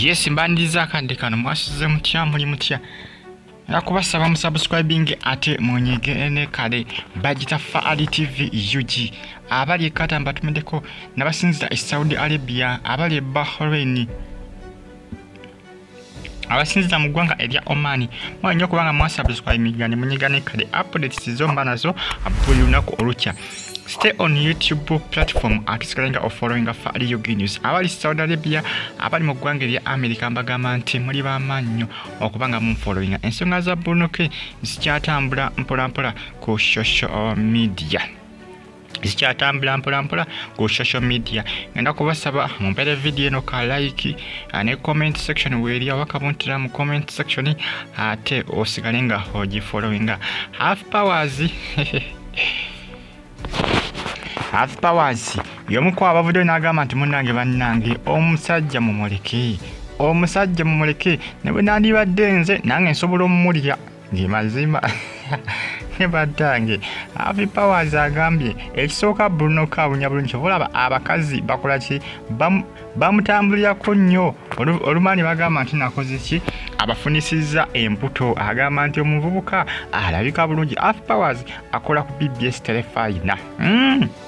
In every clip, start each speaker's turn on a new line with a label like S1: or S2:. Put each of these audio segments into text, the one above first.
S1: yes mbaniriza akadde kano mwasuze mutya muli mutya era kubasaba musubscribing ate munyige ne kale bagita faali tv ug abali ekata mbatumideko nabasinzira e saudi arabia abali e bahrain abasinziza mu ggwanga erya omani mwali nyo kubanga mwasubscribinga ne munyiga ne kade updates zo mba nazo buli lunaku olukya stay on youtube platform atusigalenga ofollowinga fa ali ug news abali saudi arabia abali mu ggwanga erya america mbagamba nti muli bamaanyi nyo okuba nga munfollowinga ensonga za bunuke zikyatambula mpolampola ku social media zikyatambula mpolampola ku social media ngenda kubasaba mumpere vidiyo eno ka like ah, ne comment section weeri oba kabuntira mu comment section ate osigale nga ogifollowinga half powers half powers yomuku abavuddeyo n'agamba nti munnange bannange omusajja mumuleke omusajja mumuleke ne bwe nandibadde nze nange nsobola omumulya ge mazima ne batange avi powers agambye ekisooka bruno kawunya bulungi kyova olaba abakazi bakola ki bamutambulirako nnyo olumaani bagamba nti nakoze ki abafunisizza embuto agamba nti omuvubuka alabika bulungi af powers akola ku bbs telefayina mm.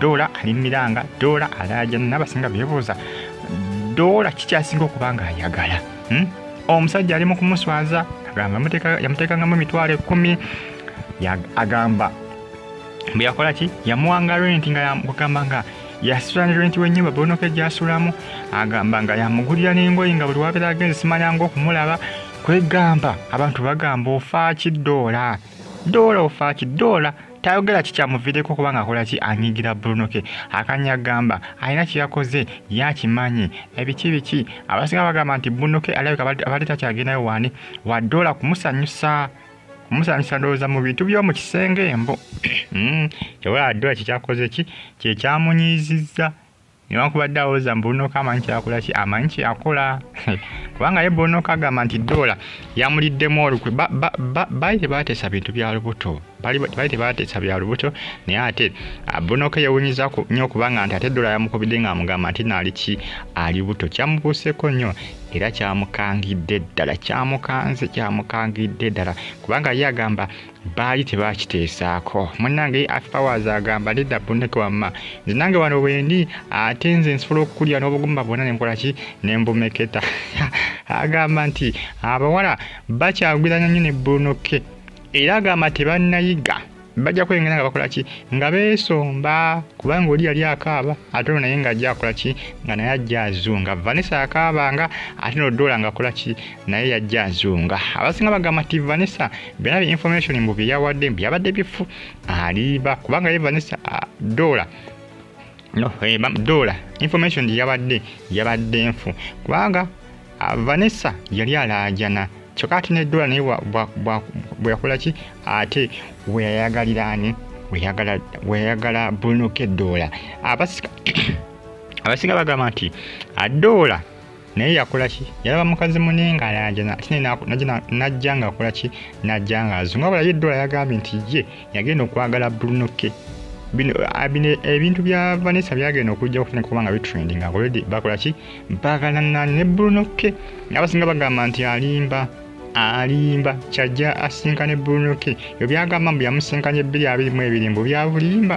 S1: doola ali mumiranga doola alaaja nabasinga bebuuza doola kikyasinga okuba nga ayagala hmm? omusajja ali mukumuswaza agamba yamutekangamu emitwalo ekumi agamba bweyakola ki yamuwanga renti nga yagamba nga yasula ne renti wenyumba bonoka egyasulamu agamba nga yamugulira nengoyi nga buli wabeera agenze simanyanga okumulaba kwegamba abantu bagamba ofaaki doola doola ofaaki doola tayogera kikyamuviireko kubanga akola ki anyigira bruno ke akanya gamba alina kyeyakoze yakimanyi ebiki biki abasinga bagamba nti bruno ke alabika abadde takyagendayo wani wadoola kumusanyusa kumusanyusa ndowooza mu bintu byomu kisenge mbo hmm, kyobola wadoola kyekyakoze ki kyekyamunyiizizza newankubadde awoza mbunoka amanyi kyakola ki amanyi kyakola kubanga ye bunoka agamba nti doola yamuliddemu olukwe baali tebateesa bintu bya lubuto baali tebateesa bya lubuto naye ate ah, bunoka yewunyiza nnyo okubanga nti ate doola yamukubidde ngaamugamba nti naali ki ali buto kyamubuuseko nnyo era kyamukangidde ddala kyamukanze kyamukangidde ddala kubanga ye agamba baali tebakiteesaako munange afpowers agamba nedda buneke wamma nze nange wano wendi ate nze nsobola okukulira n'obugumba bwona nenkolaki nembumeketa agamba nti abawala bakyagwiranya nyo ne bunoke era agamba tebannayiga bajja kwengera nga bakola ki nga beesomba kubanga oli yali akaaba ate ono naye nga ajja akola ki nga naye ajja azunga vanessa akaaba nga ate nodoola nga akola ki naye yajja azunga abasinga bagamba ti vanessa byona bi information mbu byeyawadde byabadde bifu aliba kubanga ye vanessa ah, dola no eh, dola information gyeyabadde yabadde nfu kubanga ah, vanessa yali alaajana kyokka ate ne dola naye bweyakola ki ate weyayagaliraani weyayagala brunoke dola abasika abasinga bagamba nti adola ah, naye yakola ki yalaba mukazi mune nga ayanjana ate najja nga akola ki najja nga azunga bala ye dola yagambye nti ye yagenda okwagala bulunoke Ah, ebintu bya vanessa byagenda okujja okufuna kuba nga bitrending already bakola ki bagalana ne bruno k abasinga bagamba nti alimba alimba kyajja asinka ne bruno k ebyo byagamba mbu yamusinkanye ebbiri abiri mu ebiri mbu byabulimba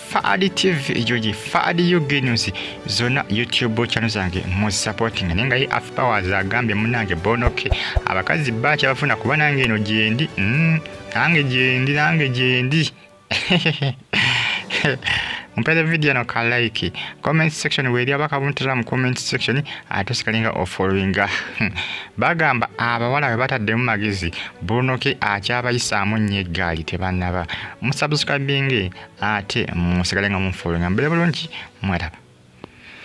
S1: Fadi TV ejoji Fadi UG News zona YouTube channel zange mu supporting ninga ye Af Powers agambye munange bonoke abakazi bacha bafuna kuba nange eno jendi mm, nange jendi nange jendi mpere video no ka like comment section weri abaka buntira mu comment section atusikalinga o following bagamba abawala we batadde mu magezi bonoke acha abayisa amunye gali tebanaba musubscribing ate musigale nga munfollowinga mbeera bulungi mweraba